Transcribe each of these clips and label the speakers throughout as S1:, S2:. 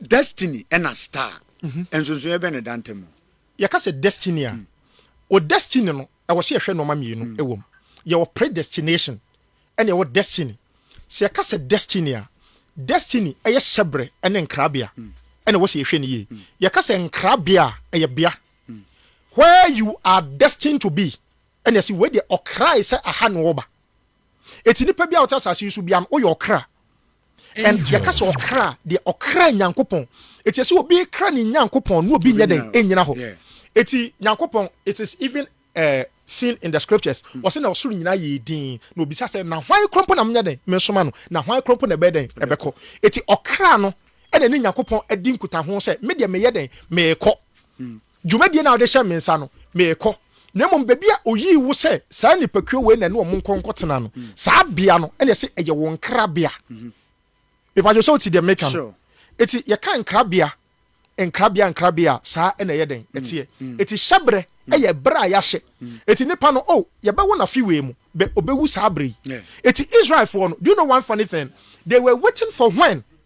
S1: Destiny ɛna star nsonsonoɛ bɛn na ɛda ntam? Yɛka sɛ destiny
S2: a, wɔ destiny no ɛwɔ sɛ yɛhwɛ nnoɔma mmienu wɔ mu. Yɛwɔ predestination ɛna yɛwɔ destiny. Sɛ yɛka sɛ destiny a, destiny ɛyɛ hyɛbrɛ ɛne nkrabea ɛna ɛwɔ sɛ yɛhwɛ no yie. Yɛka sɛ nkrabea a, ɛyɛ bea where you are destined to be ɛna yɛse wei deɛ ɔkrae sɛ aha na ɔreba. Eti nnipa biara a wɔte asase yi so biara no, woyɛ ɔkra. And yɛka sɛ ɔkra a, deɛ ɔkra Nyankopɔn. Eti ɛsɛ obi kra ne Nyankopɔn na obi nyɛ dɛn nnyina hɔ. Eti Nyankopɔn, it is even eh, seen in the scriptures, ɔse na ɔsoro nyinaa yɛɛ dinn, na obisa sɛ, na hwan korɔ mpo na menyɛ dɛn mesoma no? Na hwan korɔ mpo na ɛbɛyɛ dɛn ɛbɛkɔ? Eti ɔkra no ɛna ɛne Nyankopɔn adi nkutaho sɛ, me deɛ meyɛ dɛn meekɔ. Dwumadie no a wode hyɛ me nsa no, merekɔ. Na mmom baabi a ɔyii wo sɛ saa nnipakuo wei na ɛne wɔn nkɔ nkɔtena no, saa bea no na ɛse ɛyɛ wo nkrabea. Mepa kyɛw sɛ wote deɛ meka no? Enti yɛka nkrabea, nkrabea, nkrabea a, saa na ɛyɛ dɛn? Ɛteɛ. Enti hyɛberɛ yɛ berɛ a yɛahyɛ. Enti nipa no, oh, yɛbɛwo no afe wei mu, bɛ, ɔbɛwu saa berɛ yi. Enti Israelfoɔ no, do you know one funny thing? They were waiting for when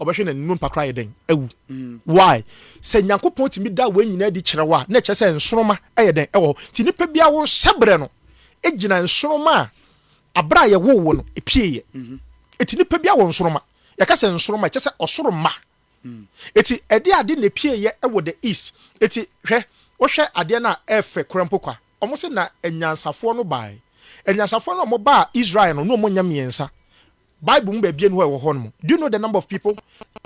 S2: Ɔbɛhwɛ na nnompa koraa yɛ dɛn? Awu. Why? Sɛ Nyankopɔn tumi da wei nyinaa adi kyerɛ wo a, na ɛkyerɛ sɛ nsoromma yɛ dɛn? Ɛwɔ hɔ. Nti nipa biara wo hyɛbrɛ no gyina nsoromma a abere a yɛwoo wo no epieeɛ. Eti nipa biara wɔ nsoromma. Yɛka sɛ nsoromma a, ɛkyerɛ sɛ ɔsoro mma. Eti ɛde ade na epieeɛ wɔ the east. Eti hwɛ, wohwɛ adeɛ no a ɛɛfɛ koraa mpo kwa. Wɔn se na anyansafoɔ no baae. Anyansafoɔ no a wɔbaa Israel no, na wɔnyɛ mmiɛnsa. Bible mu baabi ni hɔ ɛwɔ hɔ nom. Do you know the number of people?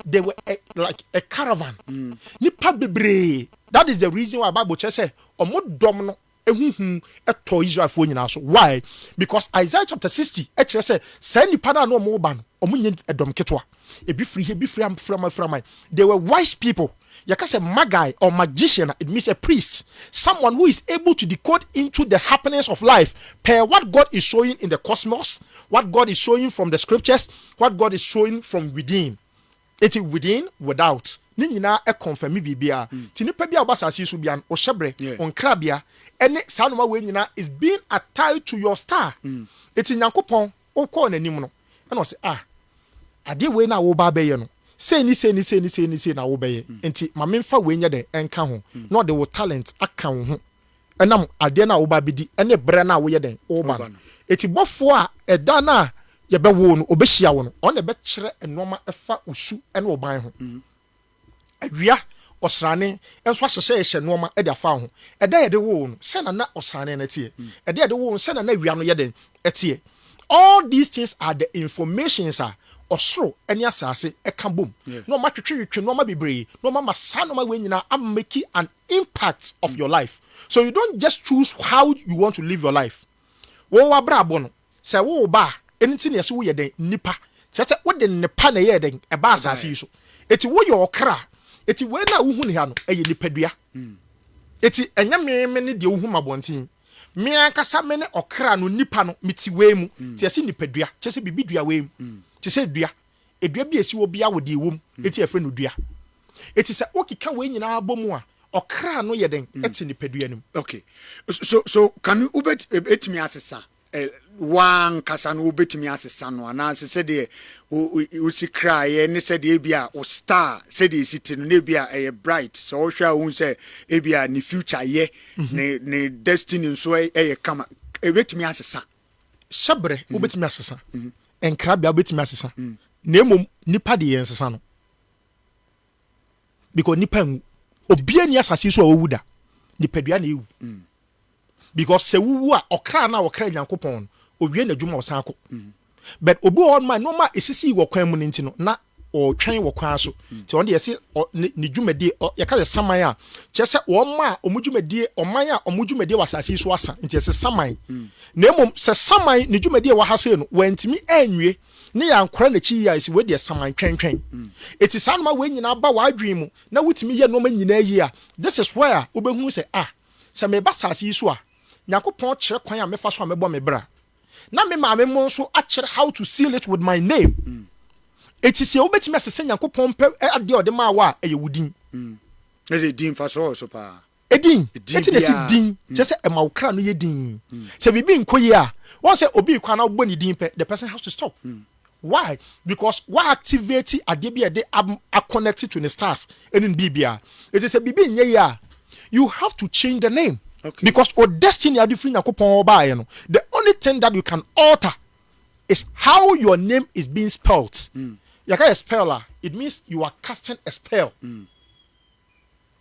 S2: They were a, like a caravan. Mm. Nipa bebree. That is the reason why Bible kyerɛ sɛ ɔmo dɔm no ehuhu ɛtɔ Israelfoɔ nyinaa so. Why? Because Isaiah chapter sixty ɛkyerɛ sɛ saa nipa no a na ɔmo ba no ɔmo nyɛ ɛdɔm ketewa. Ebi firi he, ebi firi am, firaman firaman. They were wise people. Yɛka sɛ Magi or magician a, it means a priest, someone who is able to decode into the happenings of life per what God is showing in the cosmos, what God is showing from the scriptures, what God is showing from within. Enti within, without, ne nyinaa ɛconfirme biribiara. Nti nipa bi a ɔba asase yi so biara no, ɔhyɛbrɛ, ɔnkrabea, ɛne saa nnoɔma wei nyinaa is being attied to your star. Enti Nyankopɔn Ɔkɔɔ n'anim no, ɛnna ɔse, Ah, adeɛ wei na woreba abɛyɛ no, sei ne sei ne sei ne sei ne sei na wobɛyɛ, enti ma memfa wei nyɛ dɛn nka ho, na ɔde wo talent aka wo ho, ɛnam adeɛ no a woreba abɛdi ne berɛ no a woyɛ dɛn, woreba no. Enti bɔfoɔ a ɛda no a yɛbɛwo wo no, ɔbɛhyia wo no, ɔno na ɛbɛkyerɛ nnoɔma ɛfa wo su ne wo ban ho. Awia ɔsrane nso ahyehyɛeɛ hyɛ nnoɔma de afa wo ho. Ɛda a yɛde woo wo no, sɛn na na ɔsrane no teɛ? Ɛda a yɛde woo wo no, sɛn na na awia no yɛ dɛn teɛ? All these things are the informations a ɔsoro ne asase ka bom na wɔn atwetwetwe nneɛma bebree na wɔn ama saa nneɛma wei nyinaa am make an impact of your life so you don't just choose how you want to live your life wɔn abrabɔ no Sɛ wo wo ba a, ɛno nti na yɛse woyɛ dɛn? Nipa. Kyerɛ sɛ wode nnepa na ɛyɛɛ dɛn? Ɛbaa asase yi so. Enti woyɛ ɔkra. Enti wei no a wohu no ha no, ɛyɛ nipadua. Enti ɛnyɛ me me ne deɛ wohu m'abɔnten. Me ankasa me ne ɔkra no, nipa no, mete wei mu. Nti yɛse nipadua, kyerɛ sɛ biribi dua wei mu. Te sɛ dua. Dua bi a ɛsi hɔ biara wɔ deɛ ɛwɔ mu, enti yɛfrɛ no dua. Enti sɛ wokeka wei nyinaa bɔ mu a, ɔkra no yɛ dɛn? Ɛte nipadua no mu. Okay. So
S1: so can you, wobɛtumi asesa ɛ, wo ara ankasa no wobɛtumi asesa no, anaasɛ sɛdeɛ wo, wo si kra yɛ ne sɛdeɛ ebia wo star sɛdeɛ ɛsi te no, na ebia ɛyɛ bright, sɛ wohwɛ a wohu sɛ ebia ne future yɛ, ne, ne destiny nso yɛ kama, ɛbɛtumi asesa. Hyɛberɛ
S2: wobɛtumi asesa, nkrabea wobɛtumi asesa, na mmom nipa deɛ yɛnsesa no, because nipa nwu, obiara nni asase yi so a wawu da, nipadua na ɛwu. because sɛ wowu a ɔkra no a ɔkra Nyankopɔn no owie n'adwuma a ɔsan kɔ but obi wɔ hɔ nom a nneɛma a ɛsisii wɔ kwan mu no nti no na ɔretwɛn wɔ kwan so nti ɔno deɛ yɛse ɔ- ne ne dwumadie ɔ- yɛka sɛ saman a kyerɛ sɛ wɔn a wɔn dwumadie ɔman a wɔn dwumadie wɔ asase yi so asa nti yɛse saman na mmom sɛ saman ne dwumadie a ɛwɔ ha sei no wantumi anwie ne yɛankora n'akyi yie a ɛsi wei deɛ saman twɛntwɛn ɛti saa noma wei nyinaa ba w'adwene mu na wotumi yɛ nneɛma nyinaa yie a this is where wobɛhunu sɛ ah Sɛ meba asase yi so a, Nyankopɔn kyerɛ kwan a mɛfa so a mɛbɔ me bra. Na me maame mo nso akyerɛ how to seal it with my name. Eti seɛ wobɛtumi asesa Nyankopɔn mpɛ adeɛ a ɔde maa wo a, ɛyɛ wo din. Mm. Na deɛ
S1: din fa so wɔ so paa. Edin. Eti
S2: na ɛsi din kyerɛ sɛ ɛma wo kra no yɛ din. Sɛ biribi nkɔ yie a, wɔn sɛ obi rekɔ a na wobɔ ne din pɛ, the person has to stop. Mm. Why? Because wa activate adeɛ bi a ɛde a connect to ne stars ɛne ne biribiara. Eti sɛ biribi nyɛ yie a, you have to change the name. Okay. Because o destiny a de firi Nyankopɔn hɔ baeɛ no, the only thing that you can alter is how your name is being spelt. Mm. Yɛka yɛ spell a, it means you are casting a spell. Mm.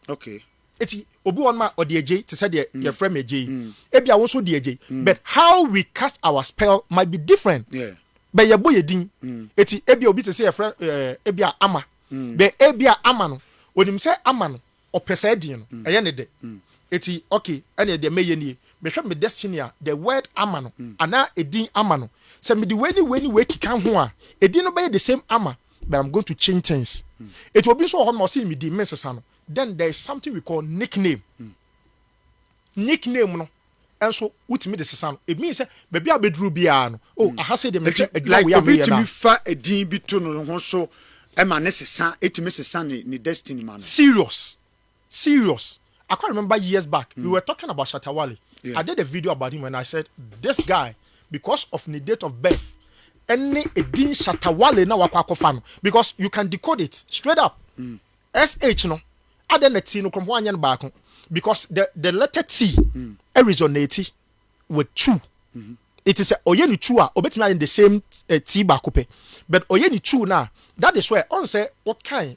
S1: okay eti obi wɔn ma
S2: ɔde agye te sɛ deɛ mm. yɛfrɛ me agye yi mm. ebi a wɔn nso de agye mm. but how we cast our spell might be different bɛ yɛ bɔ yɛ din eti ebi a obi te sɛ yɛfrɛ ɛɛ eh, ebi a ama bɛ ebi a ama no onim sɛ ama no ɔpɛ sɛ ɛdin no ɛyɛ ne dɛ eti okay ɛna ɛdeɛ mɛyɛ nie mehwɛ me destiny a the word ama no anaa edin ama no sɛ mede wei ne wei ne wei keka ho a edin no bɛyɛ the same ama But I'm going to change things Eti obi nso wɔ hɔ no ma ɔse me din mensesa no Then there is something we call nickname Nickname no nso wotumi de sesa no It means sɛ baabi a wobɛduru biara no Oh aha sei deɛ mempɛ adwuma wei a Like obi tumi
S1: fa din bi to ne ho so ma ne sesa Ɛtumi sesa ne destiny ma no Serious
S2: Serious I quite remember years back we were talking about Shatta Wale I did a video about him and I said this guy because of ne date of birth ɛne edin Shatta Wale na wakɔ akɔfa no because you can decode it straight up SH no adɛn na T no korɔmpo anyɛ no baako because the the letter T resonate with two it is sɛ ɔyɛ ne two a obetumi ayɛ the same uh, T baako pɛ but ɔyɛ ne two na that is why ɔn sɛ ɔkan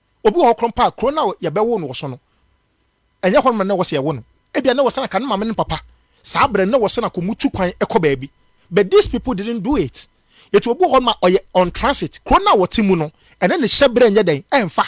S2: Obi wɔ hɔ korɔ mpo a, kuro no a yɛbɛwoo no wɔ so no, ɛnyɛ hɔnom na na ɛwɔ sɛ yɛwo no. Ebia na ɛwɔ sɛ anka ne maame ne ne papa, saa berɛ no, na ɛwɔ sɛ na anka wɔtu kwan kɔ baabi. But these people didn't do it. Enti obi wɔ hɔnom a, ɔyɛ on transit. Kuro no a wɔte mu no, ɛne ne hyɛberɛ nyɛ dɛn? Ɛmfa.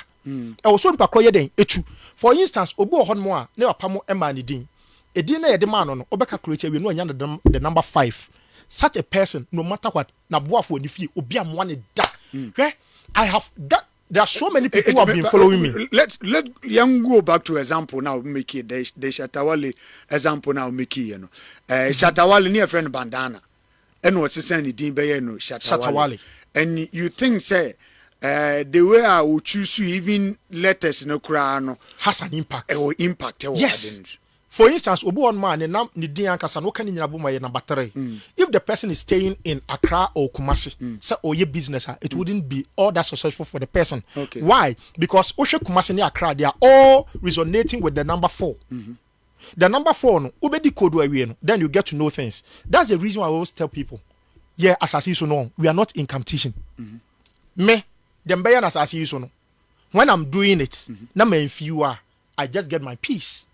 S2: Ɛwɔ sɛ onipa korɔ yɛ dɛn? Tu. For instance, obi wɔ hɔnom a, ne papa mo mmaa ne din. Edin no a yɛde maa no no, wobɛka kuro akyi awie no, wanya no the number five. Such a person, no matter what, n'aboafoɔ, ne fie, obi ammoa no da. Hwɛ, I have done, There are so many people who have been following me. Let let yɛn
S1: go back to example na o make it the the Shatawale example na o make it yɛ no. Ɛɛ eh, Shatawale ne yɛ fɛ no bandana ɛna ɔsesan ne din bɛyɛ no Shatawale. And you think sɛ uh, the way a o choose even letters no koraa no has an impact.
S2: Ɛwɔ impact ɛwɔ yes. ade
S1: no.
S2: For instance, obi wɔ hɔnom a ne nam ne din ankasa no woka ne nyina bom a ɛyɛ number three. If the person is staying in Accra or Kumasi sɛ ɔyɛ business a it wouldn't be all that successful for the person. Why?
S1: Because
S2: wohwɛ Kumasi ne Accra they are all resonating with the number four. The number four no wobɛdi kodu awie no then you get to know things. That's the reason why I always tell people yɛ asase yi so no we are not in competition. Me deɛ mbɛyɛ no asase yi so no when I'm doing it na manfew a I just get my peace.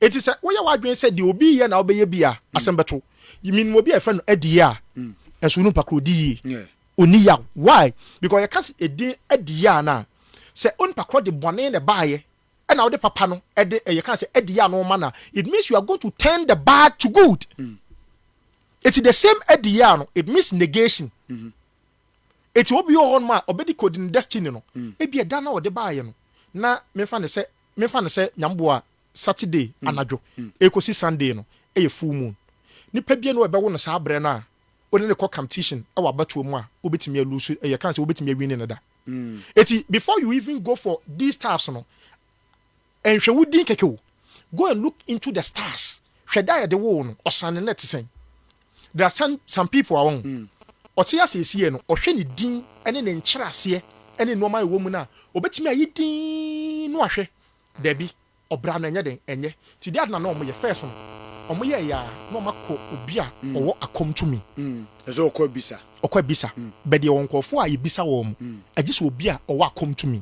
S2: Enti sɛ woyɛ w'adwene sɛ deɛ obi yɛ na wobɛyɛ bi a, mm. asɛm bɛto. Menim obi a yɛfrɛ no adie a, mm. ɛso no mpakoro di yie. Ɔni yaw. Why? Because yɛka sɛ ɛdin adie a no a, sɛ onipa korɔ de bɔne na ɛbaeɛ, ɛna wode papa no ɛde ɛyɛ ka sɛ adie a no ɔma no a, it means you are going to turn the bad to good. Mm. Eti the same adie a no, it means negation. Mm -hmm. Eti obi wɔ hɔnom a ɔbɛdi kodi ne destiny no, ebia ɛda no a ɔde baeɛ no, na memfa no sɛ, memfa no sɛ Nyame boa a Saturday anadwo ɛrekɔsi Sunday no yɛ full moon. Nipa biara nni hɔ a ɛbɛwo no saa berɛ no a wone no kɔ competition wɔ abatoɔ mu a wobɛtumi a lose, ɛyɛ ka sɛ wobɛtumi a winni no da. Eti before you even go for these stuffs no, Ɛnhwɛ wo din kɛkɛ o. Go and look into the stars hwɛ da a yɛde woo wo no ɔsan ne nɛ te sɛn. There are some some people a wɔn ɔte ase esi yɛ no ɔhwɛ ne din ne ne nkyerɛaseɛ ne nnoɔma a ɛwɔ mu no a ɔbɛtumi ayi din no ahwɛ daabi ɔbra no ɛnyɛ den ɛnyɛ nti deɛ ade na na wɔn yɛ first no wɔn yɛɛ yɛ a na wɔn akɔ obi a ɔwɔ akɔm tumi Mm, ɛsɛ ɔkɔ abisa.
S1: ɔkɔ abisa
S2: bɛ deɛ wɔn nkorɔfoɔ a yɛbisa wɔn agye sɛ obi a ɔwɔ akɔm tumi.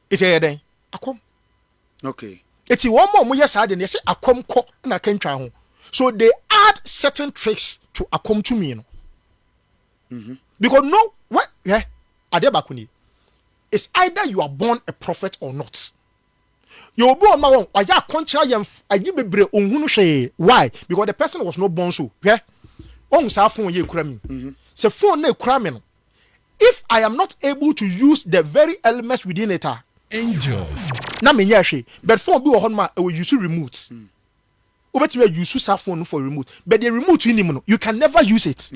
S2: Eti ɛyɛ dɛn? Akwam. Okay.
S1: Eti wɔn a
S2: wɔyɛ saa de no, yɛsɛ akwam kɔ na akantwa ho. So they add certain tricks to akwam tumi no. Mm-hmm. Because no, what, eh, adeɛ baako nie. It's either you are born a prophet or not. You will be on my own. I just contra yam ayi bebre onhunu hwee. Why? Because the person was not born so. Hwɛ. Ohun saa phone ye kura mi. Mm-hmm. Sɛ phone na kura mi no, If I am not able to use the very elements within it a,
S3: na menyɛɛ hwee.
S2: But phone bi wɔ hɔnom a ɛwɔ use remote. Wobɛtumi a use saa phone no for remote. But deɛ remote nnim no, you can never use it.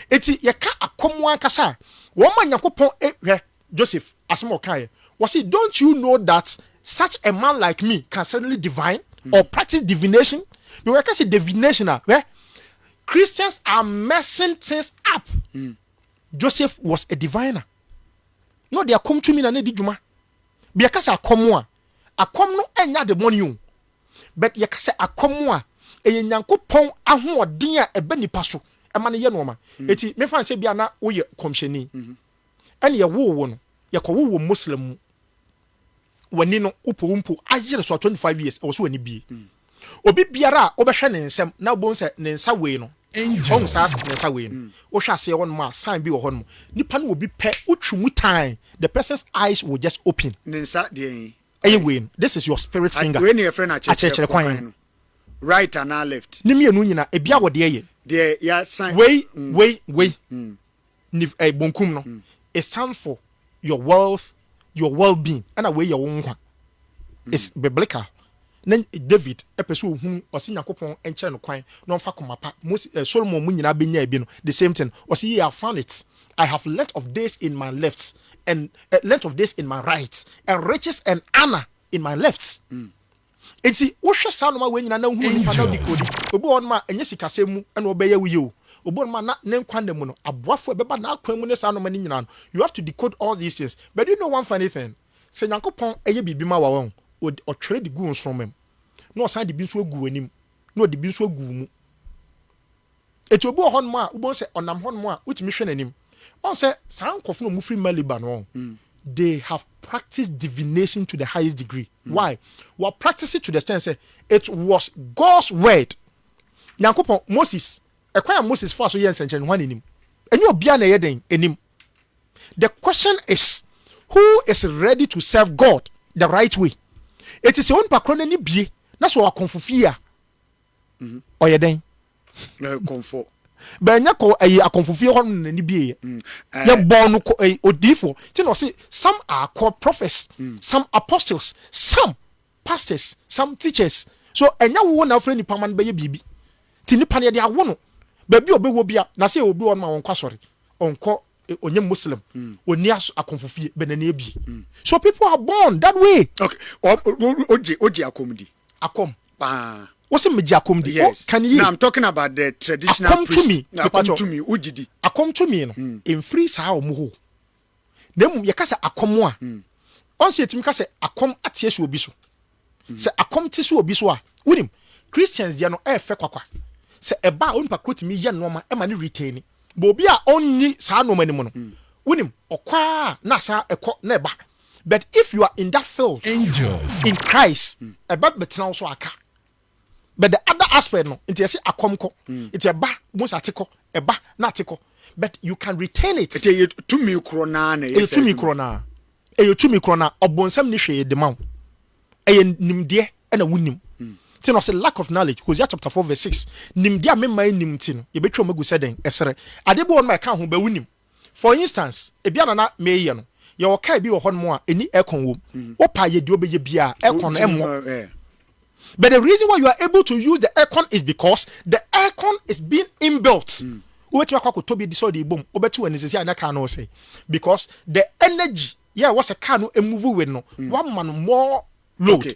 S2: Enti
S1: yɛka
S2: akɔm ankasa a, wɔn ma Nyankopɔn e, hwɛ Joseph asɛm a ɔkaeɛ. Wɔse don't you know that such a man like me can certainly divine or practice divination? Because yɛka sɛ divination a, hwɛ, Christians are messing things up. Joseph was a diviner. Na ɔde akɔm tumi na na ɛdi dwuma. Bi yɛka sɛ akɔm a, akɔm no ɛnyɛ ademɔne o. But yɛka sɛ akɔm a, ɛyɛ Nyankopɔn ahoɔden a ɛba nipa so ɛma no yɛ nnoɔma. Eti mefa no sɛ bi a na woyɛ kɔmhyɛni ɛna yɛwoo wo no, yɛkɔwoo wɔ Muslim mu. wani no wopɛ wo mpo ayere so a twenty five years ɛwɔ sɛ wani bie obi biara a wobɛhwɛ ne nsam na wobɛhu sɛ ne nsa wei no ɔhu saa Angels. ne nsa wei no wohwɛ aseɛ hɔ nom a sign bi wɔ hɔ nom nipa no wɔ bi pɛ wotwi mu tan the person's eyes will just open Ne nsa deɛ yi
S1: ɛyɛ ayɛ. wei no this is
S2: your spirit Ad- finger Wei ne yɛfrɛ no akyerɛkyerɛ akyerɛkyerɛ
S1: kwan kwan no. Right anaa left. ne mmienu nyina ebia
S2: wɔ deɛ yɛ Deɛ yɛasan.
S1: wei wei
S2: wei nif ɛɛ bonkum no, it stands for your wealth, your well being, ɛna wei yɛ wo nkwa. It's biblical. Na David pɛ sɛ ohunu, ɔse Nyankopɔn nkyerɛ no kwan na ɔmfa koma pa. Mose ɛɛ Solomon mu nyinaa benyaa bi no, the same thing. Ɔse yea I have found it, I have length of days in my left and ɛɛ length of days in my right and riches and honour in my left. Enti wohwɛ saa nnoɔma wei nyinaa na wohunu nipa na wode kodi. Obi wɔ hɔnom a, ɛnyɛ sikasɛm mu na ɔbɛyɛ wo yie o. Obi wɔ hɔnom a, na ne nkwa nna mu no, aboafoɔ a ɛbɛba n'akwan mu ne saa nnoɔma no nyinaa no, you have to decode all these things. But do you know one funny thing? Sɛ Nyankopɔn yɛ biribi ma wo a, wahu, Ɔtwerɛ de gu wo nsoromma mu, na Ɔsan de bi nso agu w'anim, na Ɔde bi nso agu wo mu. Enti obi wɔ hɔnom a wobɛhu sɛ ɔnam hɔnom a wotumi hwɛ n'anim. Woahu sɛ saa nkurɔfo no a wɔfiri Mali ba no, they have practiced divination to the highest degree. Why? Wɔ practice it to the extent sɛ it was God's word. Nyankopɔn, Moses, ɛkwan a Moses faa so yɛɛ nsɛnkyerɛnne no, hwan na ɛnim? Ɛnyɛ obiara na ɛyɛ dɛn? Ɛnim. The question is, who is ready to serve God the right way? Enti sɛ onipa korɔ no ani bue na sɛ ɔwɔ akɔmfo fie a, ɔyɛ dɛn? Kɔmfɔ.
S1: Bɛnyɛ kɔ
S2: ɛyi akɔmfo fie hɔ nom n'ani bie yɛ. Mm. Yɛ bɔɔ no kɔ ɛyi odiifo. Ti na ɔsi some are called prophets, mm. some apostles, some pastors, some teachers. So ɛnyɛ wo na afrɛ nipa ma no bɛyɛ biribi. Ti nipa no yɛde awo no. Baabi a ɔbɛwɔ bia na sɛ obi wɔ no ma wɔnkɔ asɔre. Ɔnkɔ e, ɔnyɛ muslim. Mm. Ɔni akɔmfo fie bɛ n'ani abie. Mm. So people are born that way. Okay. Oje
S1: oje akɔm di. Akɔm.
S2: paa. Wo se megye akom di? Yes. Can you? Now I'm talking
S1: about
S2: the
S1: traditional akom priest. Tumi. Na akom
S2: tumi.
S1: Wo gye
S2: di.
S1: Akom tumi no. Mm.
S2: Emfiri saa ɔmo hɔ. Na emu yɛka sɛ akɔm a. Mm. Ɔnse yɛtumi ka sɛ akɔm ateɛ so obi so. Mm. Sɛ akɔm te so obi so a, wonim Christians deɛ no ɛɛfɛ kwakwa. Sɛ ɛba a onipa koro tumi yɛ nneɛma ɛma ne retain. Bɔ obi a ɔnni saa nneɛma no mu no. Mm. Wonim ɔkɔ a na asa ɛkɔ na ɛba. But if you are in that field Angels. in
S3: Christ
S2: ɛbɛ bɛtena wo so aka But the other aspect no nti yɛse akɔm kɔ nti ɛba wobɛhu sɛ ate kɔ ɛba na ate kɔ But you can retain it Ɛti ɛyɛ tumi korɔ
S1: no ara na ɛyɛ Ɛyɛ saa tumi adwuma korɔ no ara
S2: Ɛyɛ tumi korɔ no ara Ɔbonsam nni hwee de ma wo Ɛyɛ nimdeɛ ɛna wonim nti na ɔse lack of knowledge Hosea chapter 4 verse 6 Nimdeɛ a me man nnim nti no yɛbɛtwa wɔn agu sɛ dɛn? Ɛserɛ Adeɛ bi wɔ hɔ nom a ɛka ho but wonim For instance, ebia na na mereyɛ no, yɛwɔ car bi wɔ hɔnom a ɛnni aircon wom. Wopɛ a yɛ deɛ wobɛyɛ biara, aircon no ɛmmɔ. But the reason why you are able to use the aircon is because the aircon is being inbuilt. Wobɛtumi akɔ akɔtɔ bi de sɛ ɔde rebom, wobɛte w'ani sɛ sɛ a na car no resɛe. Because the energy yɛ ɛwɔ sɛ car no move with no, woama no more load. Okay,